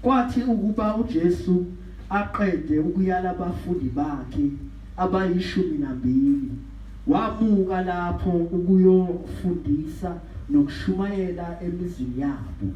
Kwathi ukuba uJesu aqede ukuyala abafundi bakhe abayishumi nambili, wamuka lapho ukuyofundisa nokushumayela emizini yabo.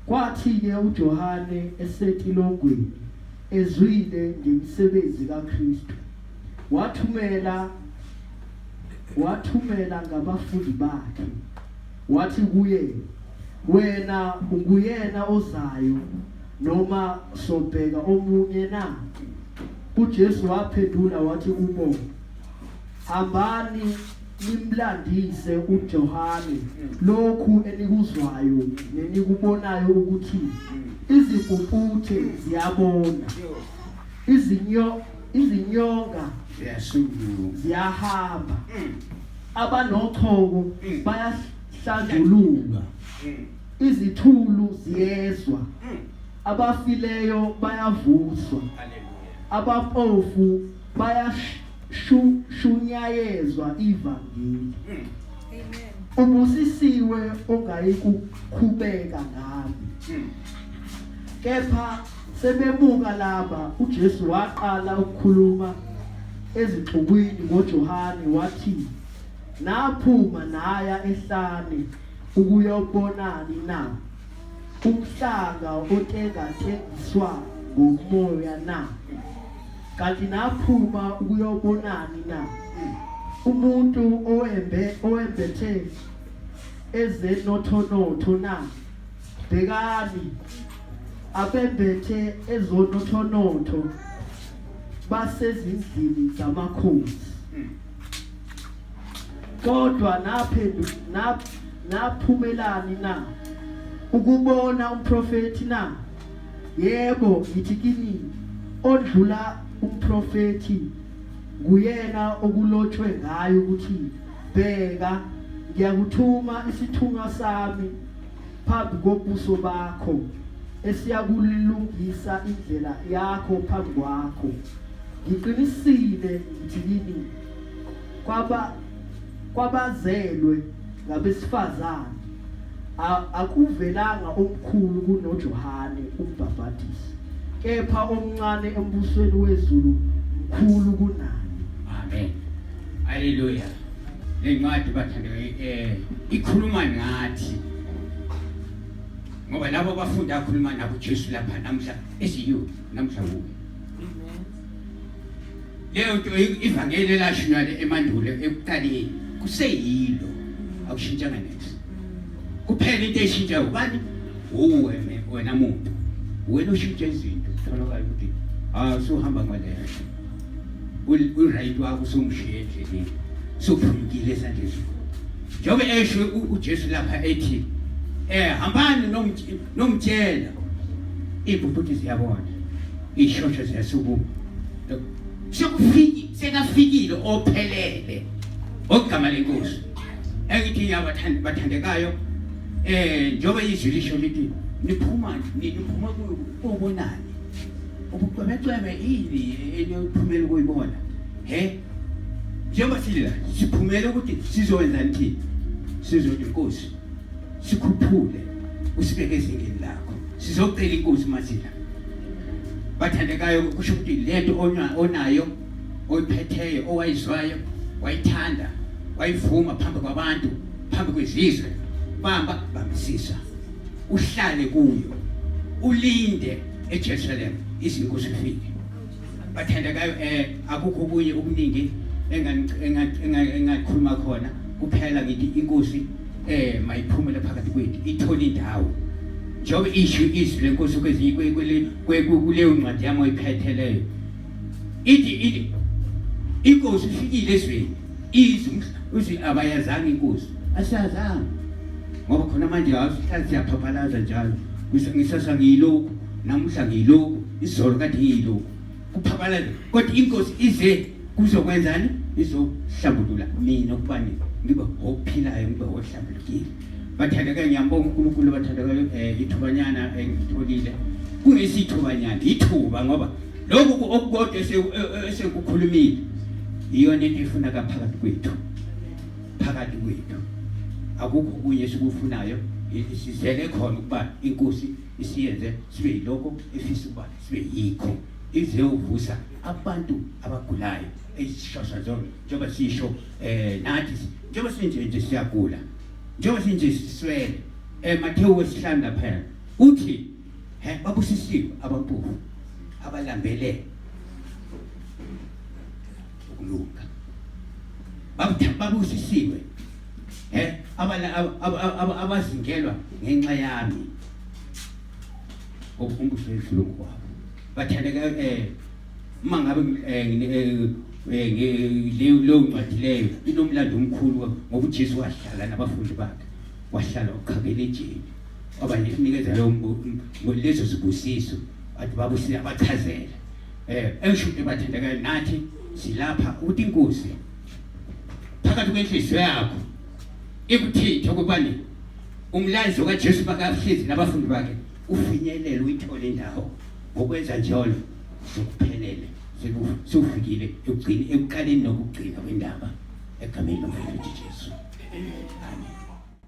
Kwathi-ke uJohane esetilongweni, ezwile ngemisebenzi kaKristu, wathumela wathumela ngabafundi bakhe, Wathi kuye, Wena unguyena ozayo noma sobheka omunye na? UJesu waphendula wathi kubo, Hambani nimlandise uJohane lokhu enikuzwayo nenikubonayo ukuthi izipumputhe ziyabona izinyo izinyonga ziyahamba abanochoko Mm. bayahlanjululwa Mm. izithulu ziyezwa Mm. abafileyo bayavuswa Hallelujah. abapofu bayashunyayezwa ivangeli Mm. ubusisiwe ongayikukhubeka ngami Mm. kepha Sebebuka laba, uJesu waqala ukukhuluma ezixukwini ngoJohane wathi, Naphuma naya ehlane ukuyobonani na? Umhlanga otengatengiswa ngomoya na? Kanti naphuma ukuyobonani na? Umuntu owembe owembethe ezenothonotho na? bhekani abembethe ezonothonotho basezindlini zamakhosi kodwa naphendu nap naphumelani na ukubona umprofeti na yebo ngithi kini odlula umprofeti nguyena okulotshwe ngayo ukuthi bheka ngiyakuthuma isithunywa sami phambi kobuso bakho esiyakulungisa indlela yakho phambi kwakho ngiqinisile ngithi yini kwaba kwabazelwe ngabesifazane akuvelanga omkhulu kunoJohane umbhapatisi kepha omncane embusweni wezulu mkhulu kunaye amen haleluya Le ncwadi bathandwa eh ikhuluma ngathi ngoba labo abafundi akhuluma nabo uJesu lapha namhla esiyo namhla wo leyo nto ivangeli elashunywa emandulo ekuqaleni kuseyilo akushintshanga nethi kuphela into eshintsha ubani uwe wena muntu wena ushintsha izinto tholakala ukuthi awusuhamba ngaleyo uRayit wakho usumshiye endleleni sophulukile esandleni njengoba esho uJesu lapha ethi eh hambani nomtshela ibhubuthi ziyabona ishosho ziyasukuma sekufiki sekafikile ophelele ogama lenkosi engithi ngiyabathanda bathandekayo eh njengoba izwi lisho lithi niphuma niphuma kuyo obonani ubucwebecwebe ini eniyophumela ukuyibona he njengoba sila siphumele ukuthi sizowenza nithini sizothi inkosi sikhuphule usibeke ezingeni lakho sizocela inkosi masila bathandekayo kusho ukuthi lento onayo oyiphetheyo owayizwayo wayithanda wayivuma phambi kwabantu phambi kwezizwe bamba bambisisa uhlale kuyo ulinde eJerusalem izinkosi ifike bathandekayo eh akukho kunye okuningi engakhuluma khona kuphela ngithi inkosi eh mayiphumele phakathi kwethu ithole indawo njengoba isho izwi lenkosi kwezinye kuleyo ncwadi yami oyiphetheleyo ithi ithi inkosi ifikile ezweni izwi izwi abayazanga inkosi asiyazanga ngoba khona manje awusihlali siyaphaphalaza njalo ngisasa ngiyilokhu namuhla ngiyilokhu izolo kade ngiyilokhu kuphaphalaza kodwa inkosi ize kuzokwenzani izohlambulula mina ukubani ngibe ophilayo ngibe ohlambulukile bathandeka ngiyambonga unkulunkulu bathandeka um eh, ithubanyana engitholile kungesithubanyana ithuba ngoba lokhu okukodwa e, e, esekukhulumile iyona into ifuna kaphakathi kwethu phakathi kwethu akukho kunye esikufunayo sizele khona ukuba inkosi isiyenze sibe yilokho efisa ukuba sibe yikho ize uvusa abantu abagulayo ezishosha zona njengoba sisho um nathi njengoba sinje nje siyagula njengoba sinje siswele um eh, mathewu wesihlanu laphela uthi He, babusisiwe abampofu abalambele ukulunga. Babusisiwe he abazingelwa ngenxa yami ngokukumbuso edlulungu kwabo bathandeka um eh, uma ngabe eh, eh, leyo ncwadi leyo inomlando omkhulu ngoba ujesu wahlala nabafundi bakhe wahlala uqhabele ejeni Baba ngikunikeza leyo lezo zibusiso athi baba usiyabachazela eh esho ukuthi bathandeka nathi silapha ukuthi inkosi phakathi kwenhliziyo yakho ikuthithe ukubani umlayezo kaJesu bakahlezi nabafundi bakhe ufinyelele uyithole indawo ngokwenza njalo sokuphelele sekufikile ekugcini ekuqaleni nokugcina kwendaba egameni lomfowethu Jesu amen